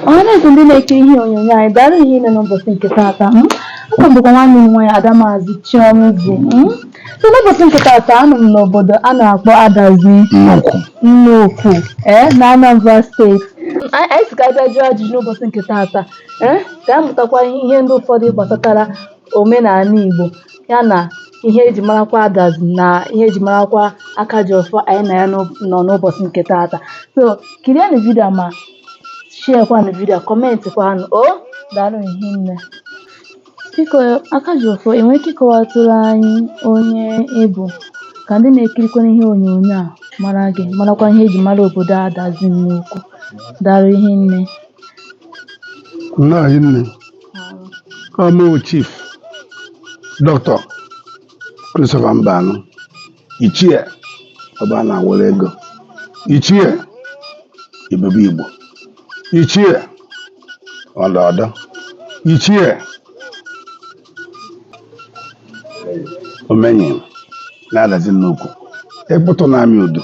ọhaneze ndị na-ekiri ihe onyonyo anyị daalụ ihe nne n'ụbọchị nke taata aka m bụkwa nwanne unu nwaanyị ada maazị chiomzi so n'ụbọchị nke taata anọ m n'obodo a na-akpọ adazi nnukwu ee na anambra steeti anyị sị ka a bịa jụọ ajụjụ n'ụbọchị nke taata ee ka a mụtakwa ihe ndị ụfọdụ gbasatara omenala Igbo ya na ihe eji marakwa adazi na ihe eji marakwa aka ji ọfọ anyị na ya nọ n'ụbọchị nke taata so kirienụ vidio ma share kwanụ vidio kọmentị kwanụ o daalụ ihe nne biko aka ji ọfọ ị nwere ike ịkọwatụrụ anyị onye ị bụ ka ndị na-ekirikwa ihe onyonyo a mara gị marakwa ihe eji mara obodo adazi nnukwu daalụ ihe nne nna anyị nne ọ mụ chief doctor Christopher Mbanu ichie ọba na were ego ichie ebube igbo ichie ọlaodo ichie omenyi na adazi nnukwu ịkpụtụ na-amị udo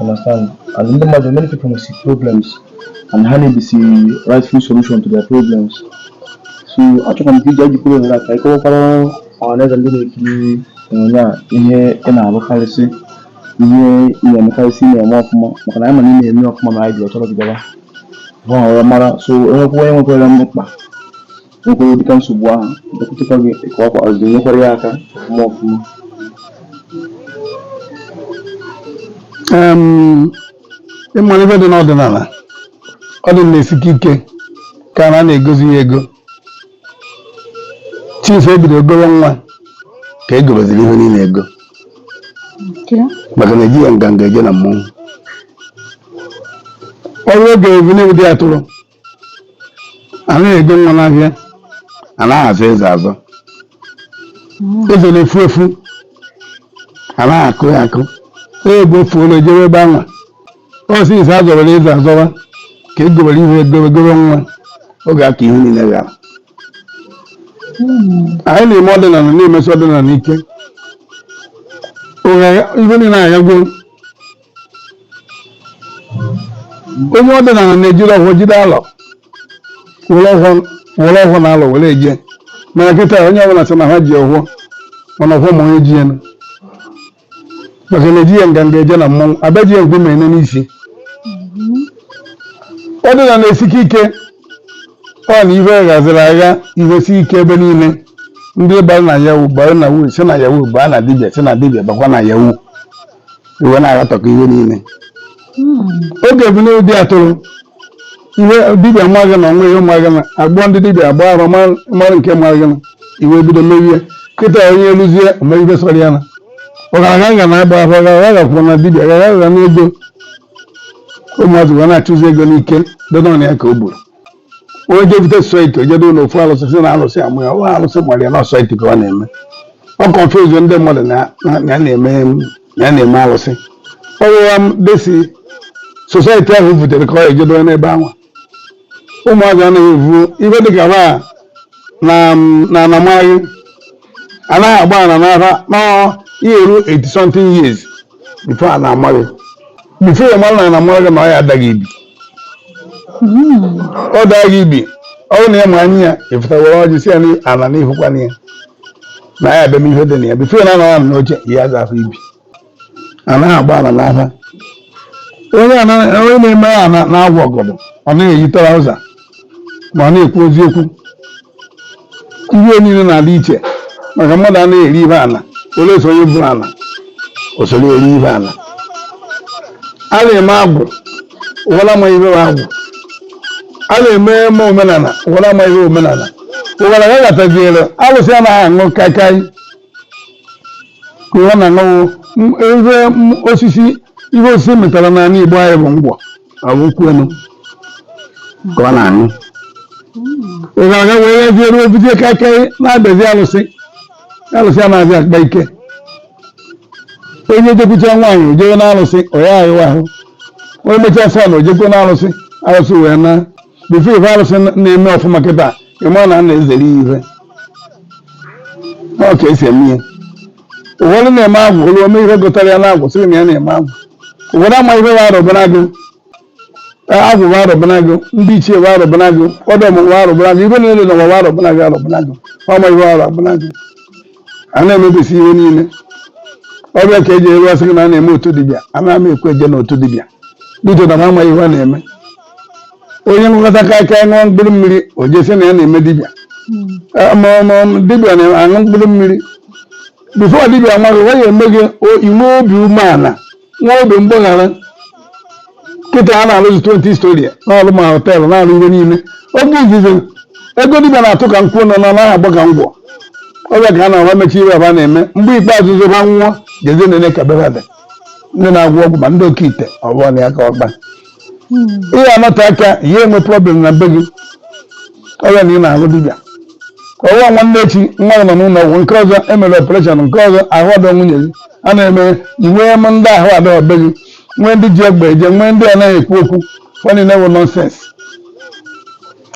understand and ndị mmadụ many people nwesị problems and ha na-ebisi rightful solution to their problems so achọkwa m ka i jikwa ohere a ka ị kọwakwara ọhaneze ndị na-ekiri onyonyo a ihe ị na-alụkarịsị ihe ị na-emekarịsị ị na-eme ọfụma maka na anyị ma na ị na-eme ọfụma na anyị ji achọrọ gị bịaba ha ọrụ mara so e nwekwuo onye nwekwara mkpa nwekwara ụdịka nsogbu ahụ bịakwutekwa gị ị kọwakwa ọzọ nyekwara ya aka ọfụma ọfụma Em, ị mara ife dị n'ọdịnala ọdịnala esike ike ka a na-egozi ya ego since e bido goro nwa ka e goroziri ihe niile ego maka na ejighị nganga eje na mmọnwụ ọ bụrụ oge ebunu bụ di atụrụ a naghị ego nwa n'ahịa a naghị azọ eze azọ eze na-efu efu a naghị akụ ya akụ onye bụ ofu ụlọ ejebe ebe anwa ọ since a zọbara eze azọba ka e gobere ihe egobe gobe nwa oge a ka ihe niile ghara anyị na-eme ọdịnala na-emesi ọdịnala ike ugbu a ihe niile aghagwo onye ọdịnala na-ejiri ọfọ jide alọ were ọfọ were ọfọ na alọ were eje mana kịta onye ọbụla sị na ha ji ọfọ mana ọfọ ma onye ji ya nụ. maka na ejighị nganga eje na mmọnwụ abịa ji ya nkume ene n'isi ọdịnala esike ike ọ na ife ghaziri agha ife si ike ebe niile ndị bara na yahoo bara na wu si na yahoo baa na dibịa si na dibịa bakwa na yahoo iwe na-aratọkọ ihe niile oge bụ n'ụdị a tụrụ ihe dibịa amaghị na onwe ihe maghị na agbụọ ndị dibịa agba arụ ma- mara nke maghị na iwe bido merie kịta onye eluzie o mee ihe sọrọ ya na ọgaranya ga na-agba afa ọgaranya gakwụ na dibịa gara ga n'ego ụmụazị ga na-achụzi ego n'ike dị n'ọnụ ya ka o gburu onye je bute society o je do ụlọ ofu alụsị si na alụsị amụ ya ụlọ alụsị gbara ya na society ka ọ na-eme ọ confuse ndị mmadụ na na- na ya na-eme na ya na-eme alụsị ọ rụwa m desi society ahụ butere ka ọ je do n'ebe ahụ ụmụazị anaghị evu ibe dịka ba na na anamaghị anaghị agba ana n'afa nọọ ihe eru 80 something years before a na-ama gị before ya mara na a na-amara gị na ọ ya adaghị ibi ọ daa gị ibi ọ bụrụ na ya ma anya ya ịfụta were ọjị si ya na ala na ihụkwana ya na ya abịa m ihe dị na ya before ya na anọ n'oche ya aza afọ ibi a naghị agba ala n'afa onye a na- onye na-eme ya na- na-awa ọgọdọ ọ na-eyi trouser ma ọ na-ekwu eziokwu ihe niile na-adị iche maka mmadụ anaghị eri ihe ala ole so onye bụ ala o soro eri ihe ala a na-eme agwụ ụwara ma ihe bụ agwụ a na-eme eme omenala ụwara ma ihe omenala ụwara ya gataziere alụsị anaghị aṅụ kaikai ka ụwa na-aṅụ ihe osisi ihe osisi metara n'ala Igbo anyị bụ ngwọ ọ bụ nkwụ enu ka ọ na-aṅụ ị ga-aga were ya jee ruo bute kaikai na-abịazi alụsị alụsị a na-abịa akpa ike onye jekwucha nwaanyị o jewe na alụsị ọ ya awụ ahụ onye mechaa sọn o jekwo na alụsị alụsị wee na before ife arụsị na-eme ọfụma kịta ịma na a na-ezere ya ife ọ ka esi eme ya ụfọdụ na-eme agwụ olu ome ihe gụtara ya n'agwụ sịrị na ya na-eme agwụ ụfọdụ ama ihe wa arụbara gị agwụ wa arụbara gị ndị ichie wa arụbara gị ọda ọmụmụ wa arụbara gị ihe niile na ụwa wa arụbara gị arụbara gị ọma ihe wa arụbara gị a na-emebisi ihe niile ọ bụ ya ka e ji eru asị gị na a na-eme otu dibịa a na-ama ekwe eje n'otu dibịa dito na m ama ihe ọ na-eme onye nghọta kacha ṅụọ mkpụrụ mmiri o jesi na ya na-eme dibịa Eh, ma ma dibịa na-aṅụ mkpụrụ mmiri before dibịa nwaghị ọ ga-eme gị o- inwe obi umeala nwee obi mgbaghara kịta a na-alụzi 20 story na-alụ ma hotel na-alụ ihe niile oge izizi ego dibịa na-atụ ka nkwụ nọ na naghị agba ka ngwọ ọ bụ ya ka a na-awa mechi ihe aba na-eme mgbe ikpeazụ zoba nwụọ jeze na-ene ka bebe dị ndị na-agwọ ọgwụ ma ndị okite ọ bụ ọnụ ya ka ọkpa ihe anọte aka ihe enwe problem na be gị ọ bụ ya na ị na-ahụ dibịa ka ọwa nwanne echi nwa gị nọ n'ụlọ ọgwụ nke ọzọ emere operation nke ọzọ ahụ ọdọ nwunye gị a na-eme nwee m ndị ahụ adọ be gị nwee ndị ji egbe eje nwee ndị anaghị ekwu okwu fa niile bụ nonsense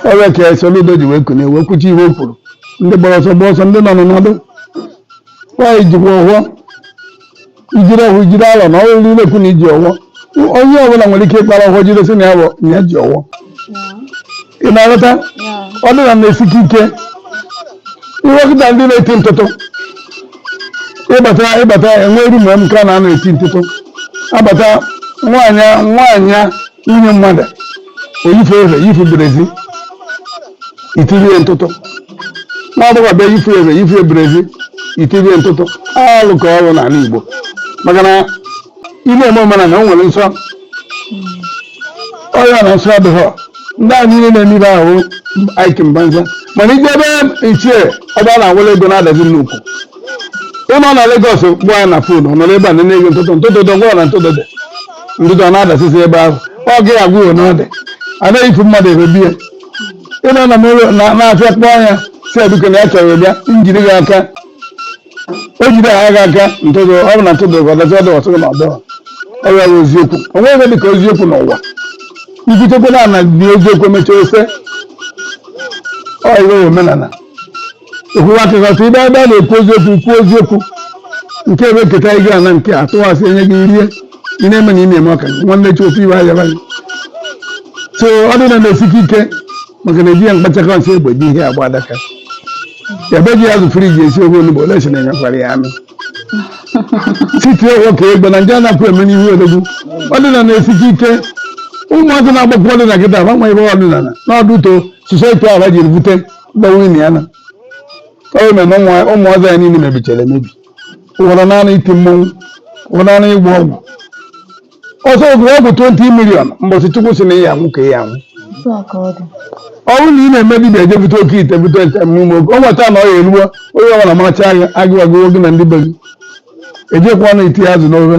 ọ bụ ya ka Soludo ji wee kunie wee kwuchi ihe o kwuru ndị gbara ọsọ gbaa ọsọ ndị nọ n'ọnọdụ nwaanyị jikwa ụgwọ ijide ọwọ ijide alọ na ọrụ niile kwu na iji ọwọ onye ọbụla nwere ike ịkpara ọwọ jide sị na ya bụ na ya ji ọwọ ị na-aghọta ọdịnala na-esike ike ihe kịta ndị na-eti ntụtụ ịbata ịbata enwe ru mgbe m ka na na-eti ntụtụ abata nwaanyị nwaanyị nwunye mmadụ o yifu efe yifu brezi itiri ya ntụtụ nwa agbọghọ abịa yifu efe yifu brezi itiri ya ntụtụ alụ ka ọ bụ n'ala igbo maka na ime eme omenala o nwere nsọ ọ bụ ya na nsọ adịghọ ndị a niile na-eme ibe ahụ aikin banza mana ije ebe ichie ọba na awụla ego na-adazi nnukwu ịnọ na Lagos kpọọ ya na phone ọ nọrọ ebe a na-enye gị ntụtụ ntụtụ dọ gwara na ntụtụ dị ntụtụ ọ na-adasịsị ebe ahụ ọ gị agwụghị n'ọdị anaghị ifu mmadụ ebe bie ịnọ na m ụlọ na- na-afịa kpọọ ya sị aduke na ya chọrọ bịa m jiri gị aka o jide gị aka ntụtụ ọ bụ na ntụtụ dị ọ dazie ọ dọ ọ sị gị na ọ dọ ọ ya bụ eziokwu o nweghị ihe dị ka eziokwu n'ụwa ikwutekwe na ana dị eziokwu emechaa ose ọ ya wụ omenala ịkwụwa aka gị ọtọ ị bịa ebe a na-ekwu eziokwu kwuo eziokwu nke ebe nketa anyị ga na nke a tụwasị enye gị rie ị na-eme na ị na-eme ọka nwanne echi ofe iwe ahịa banye so ọdịnala na-esike ike maka na eji ya mkpachakọ nsị egbe ji ihe agba adaka ebe ji azụ fridge esi ofe onugbu ole si na-enyekwara ya anụ siti ọgwọ ka egbe na ndị anapụ eme n'ihu odogwu ọdịnala na-esike ike ụmụazị na-agbakọ ọdịnala kịta agbanwe ihe ọdịnala n'ọdụ to society ahụ ha jiri bute gbanwe na ya na ọ mere na ụmụ- ụmụazị anyị niile mebichara emebi ụfọdụ naanị iti mmọnwụ ụfọdụ naanị ịgba ọgwụ ọsọ ọ gwọọ ọgwụ 20 million mbọsị chukwu sị na ya anwụ ka ya anwụ ọ bụrụ na ị na-eme dibịa eje bute oke ite bute ite mmume oge ọ nweta na ọ ya eruo onye ọbụla maracha agụụ agụwago gị na ndị be gị ejekwa na iti azụ n'ofe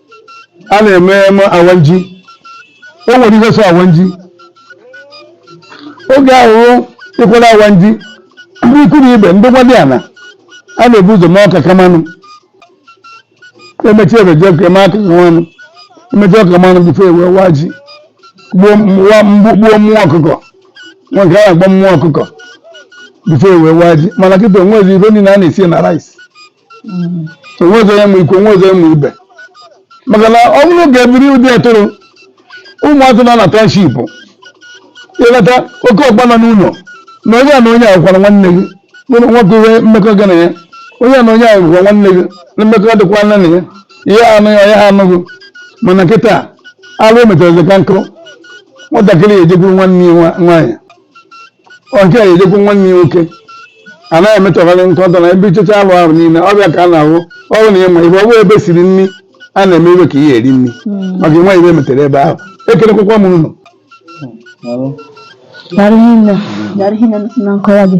a na-eme eme awanji o nwere ihe so awanji oge ahụ ịkwara awanji ndị ikwu na ibe ndị nwadiana a na-ebu ụzọ mee ọka kamanụ emechi ebeji ọka eme aka kamanụ emechi ọka mmanụ before e wee waa ji gbuo m- wa- mgbu- gbuo mmụọ ọkụkọ nwa nke a na-agba mmụọ ọkụkọ before e wee waa ji mana kịta o nwezi ife niile a na-esi na rice onwezi onye ma ikwu onwezi onye ma ibe maka na ọ bụrụ ka ebiri ụdị etoro ụmụazị nọ na township ịleta oke ọkpa nọ n'ụlọ na onye a na onye a bụkwa nwanne gị nke nwoke ihe mmekọ gị na ya onye a na onye a bụkwa nwanne gị na mmekọ dịkwa nne na ya ihe anụ ya ya anụghị mana kịta alụ emetara ka nkụ nwatakịrị ya ejekwuru nwanne ya nwa- nwaanyị nwoke ya ejekwu nwanne ya nwoke a na-emetọgharị nkọtọ na ebe ichecha alụ ahụ niile ọ bịa ka a na-ahụ ọ bụ na ịma ibe ọ bụ ebe e siri nri a na-eme iwe ka ihe eri nri maka ịnwa ibe metere ebe ahụ ekelekwakwa m unu Daalụ hinne. Daalụ hinne na nkọwa gị.